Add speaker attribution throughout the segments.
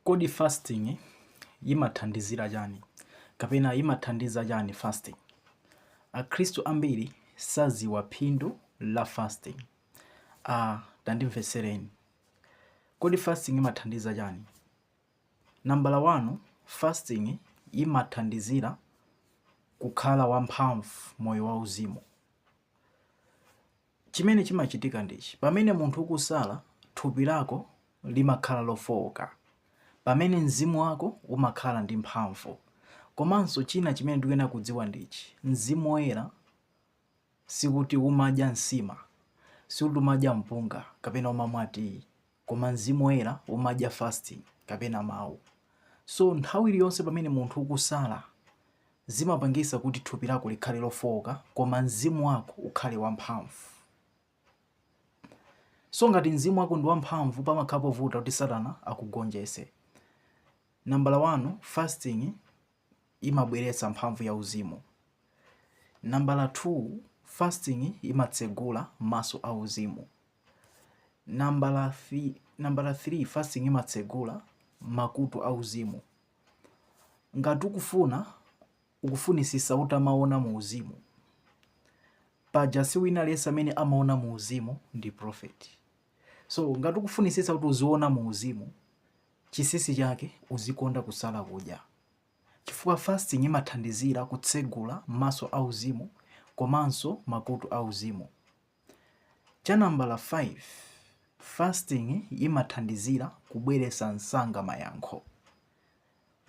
Speaker 1: Kodi fasting yimathandizira chani kapena imathandiza chani fasting? Akhristu ambiri saziwa phindu la fasting. A. Tandimvetsereni. Kodi fasting imathandiza chani? Nambala wani, fasting imathandizira kukhala wamphamvu moyo wauzimu. Chimene chimachitika ndichi, pamene munthu ukusala, thupi lako limakhala lofooka, pamene mzimu wako umakhala ndi mphamvu. Komanso china chimene tikuyenera kudziwa ndichi, Mzimu Woyera sikuti umadya nsima, sikuti umadya mpunga kapena umamwa tiyi. Koma Mzimu Woyera umadya fasting kapena Mawu. So nthawi iliyonse pamene munthu ukusala zimapangisa kuti thupi lako likhale lofooka koma mzimu wako ukhale wamphamvu. So ngati mzimu wako ndi wamphamvu pamakhala povuta kuti Satana akugonjese. Nambala wani, fasting imabweretsa mphamvu ya uzimu. Nambala 2, fasting imatsegula maso a uzimu. Nambala 3, fasting imatsegula makutu a uzimu. Ngati ukufuna ukufunisisa utamaona mu uzimu paja si wina aliyense amene amaona mu uzimu ndi prophet. So ngati ukufunisisa kuti uziona mu uzimu Chisisi chake, Uzikonda kusala kudya chifukwa fasting imathandizira kutsegula maso auzimu komanso makutu auzimu. Cha nambala 5, Fasting imathandizira kubweretsa msanga mayankho.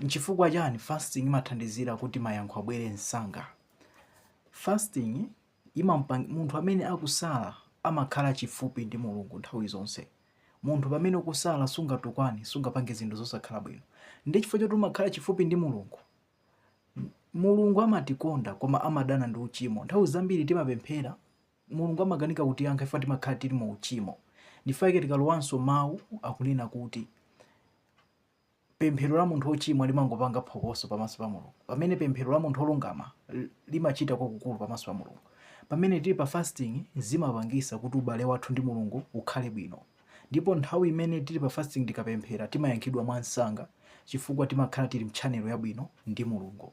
Speaker 1: Nchifukwa chani fasting imathandizira kuti mayankho abwere msanga? Fasting. Ima, munthu amene akusala amakhala chifupi ndi Mulungu nthawi zonse. Munthu pamene ukusala sungatukwane, sungapange zinthu zosakhala bwino. Ndi chifukwa choti umakhala chifupi ndi Mulungu. Mulungu amatikonda koma amadana ndi uchimo. Nthawi zambiri timapemphera, Mulungu amakanika kutiyankha chifukwa timakhala tili mu uchimo. Ndi chifukwa chake tikalowanso mawu akunena kuti. Pemphero la munthu wochimwa limangopanga phokoso pamaso pa Mulungu, pamene pemphero la munthu wolungama limachita kwakukulu pamaso pa Mulungu. Pamene tili pa fasting zimapangisa kuti ubale wathu ndi Mulungu ukhale bwino. Ndipo nthawi imene tili pa fasting tikapemphera timayankhidwa mwansanga chifukwa timakhala tili mchannel yabwino ndi Mulungu.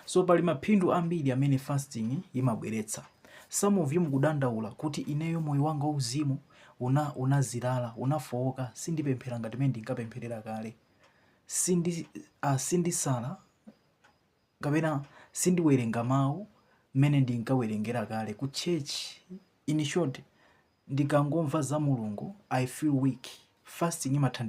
Speaker 1: So pali maphindu ambiri amene fasting imabweretsa. Some of you mukudandaula kuti ineyo moyo wanga wauzimu unazilala, unafowoka, sindipemphera ngati mmene ndinkapempherera kale. Sindisala kapena sindiwerenga mawu mmene ndinkawerengera kale ku church. In short, ndikangomva za Mulungu I feel weak. Fasting imathandiza